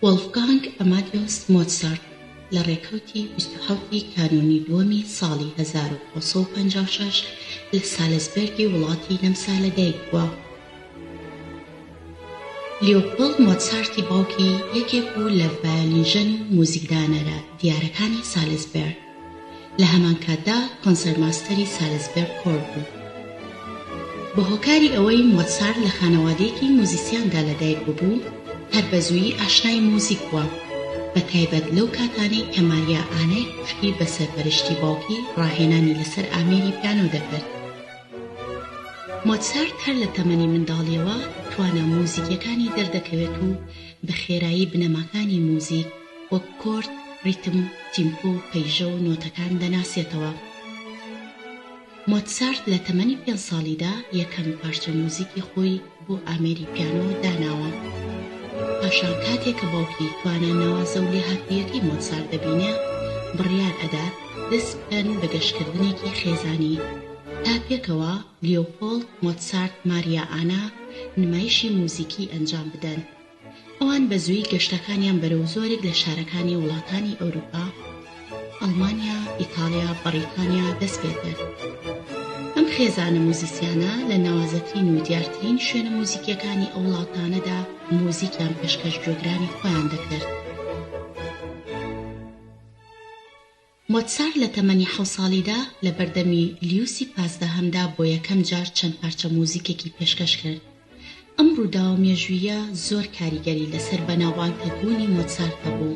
وۆڵفگانگ ئەمادیۆس مۆتسارت لە ڕێکەوتی بیست و حەوت ی کانوونی دووەمی ساڵی هەزار و نۆ سەد و پەنجا و شەش لە سالزبێرگی وڵاتی نەمسا لەدایک بووە. لیۆپۆڵد مۆتسارتی باوکی یەکێک بوو لە ڤایۆلینژەن و موزیکدانەرە دیارەکانی سالزبێرگ. لە هەمانکاتدا کۆنسەرماستەری سالزبێرگ کۆر بوو. بە هۆکاری ئەوەی مۆتسارت لە خانەوادەیەکی موزیسیاندا لەدایک ببوو، هەر بەزوویی ئاشنای موزیک بووە، بەتایبەت لەو کاتانەی کە ماریا ئانای خوشکی بە سەرپەرشتی باوکی ڕاهێنانی لەسەر ئامێری پیانۆ دەکرد. مۆتسارت هەر لە تەمەنی منداڵییەوە توانا موزیکییەکانی دەردەکەوێت و بە خێرایی بنەماکانی موزیک وەک کۆرد، ریتم، تیمپۆ، پەیژە و نۆتەکان دەناسێتەوە. مۆتسارت لە تەمەنی پێنج ساڵیدا یەکەم پارچە موزیکی خۆی بۆ ئامێری پیانۆ داناوە. پاشان کاتێ کە باوکی توانا ناوازە و لێهاتوویەکەی مۆتسارت دەبینێ، بڕیار ئەدات دەست بکەن بە گەشتکردنێکی خێزانی، تا پێکەوە لیۆپۆڵد مۆتسارت-ماریا ئانا نمایشی موزیکی ئەنجام بدەن. ئەوان بە زوویی گەشتەکانیان بەرەو زۆرێک لە شارەکانی وڵاتانی ئەوروپا، ئەڵمانیا، ئیتاڵیا، بەڕیتانیا، دەست پێکرد. ئەم خێزانە موزیسیانە لە ناوازەترین و دیارترین شوێنە موزیکییەکانی ئەو وڵاتانەدا موزیکیان پێشکەش گوێگرانی خۆیان دەکرد. مۆتسارت لە تەمەنی حەوت ساڵیدا لە بەردەمی لیوسی پازدەهەمدا بۆ یەکەم جار چەند پارچە موزیکێکی پێشکەش کرد. ئەم ڕووداوە مێژووییە زۆر کاریگەری لەسەر بەناوبانگتر بوونی مۆتسارت هەبوو.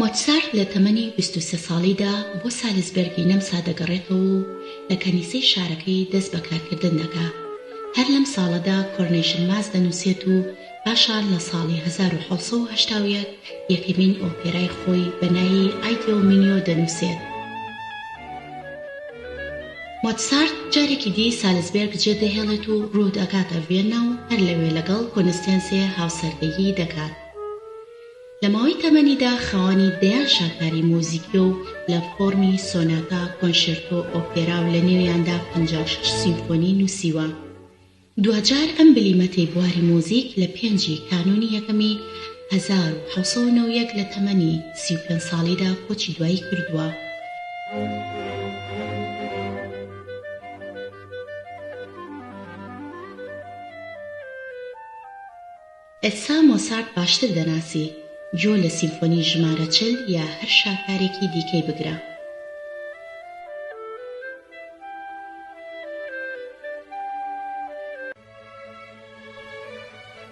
مۆتسارت لە تەمەنی بیست و سێ ساڵیدا بۆ سالزبێرگی نەمسا دەگەڕێتەوە و لە کەنیسەی شارەکەی دەست بە کارکردن دەکا. هەر لەم ساڵەدا کۆرنەیشن ماس دەنووسێت و، پاشان لە ساڵی هەزار و حەوت سەد و هەشتا و یەک یەکەمین ئۆپێرای خۆی بە نایی ئایدیۆ مینیۆ دەنووسێت. مۆتسارت جارێکی دی سالزبێرگ جێدەهێڵێت و روو دەکاتە ڤیەننا و هەر لەوێ لەگەڵ کۆنستێنسێ هاوسەرگیری دەکات. لە ماوەی تەمەنیدا خاوەنی دەیان شاکاری موزیکیە و لە فۆڕمی سۆناتا، کۆنشێرتۆ، ئۆپێرا و لەنێویاندا پەنجا و شەش سیمفۆنی نووسیوە. دواجار ئەم بلیمەتەی بواری موزیک لە پێنج ی کانوونی یەکەمی هەزار و حەوت سەد و نەوەد و یەک لە تەمەنی سی و پێنج ساڵیدا کۆچی دوایی کردووە. ئێستا مۆسارت باشتر دەناسی، جۆ لە سیمفۆنی ژمارە چل یا هەر شاکارێکی دیکەی بگرە.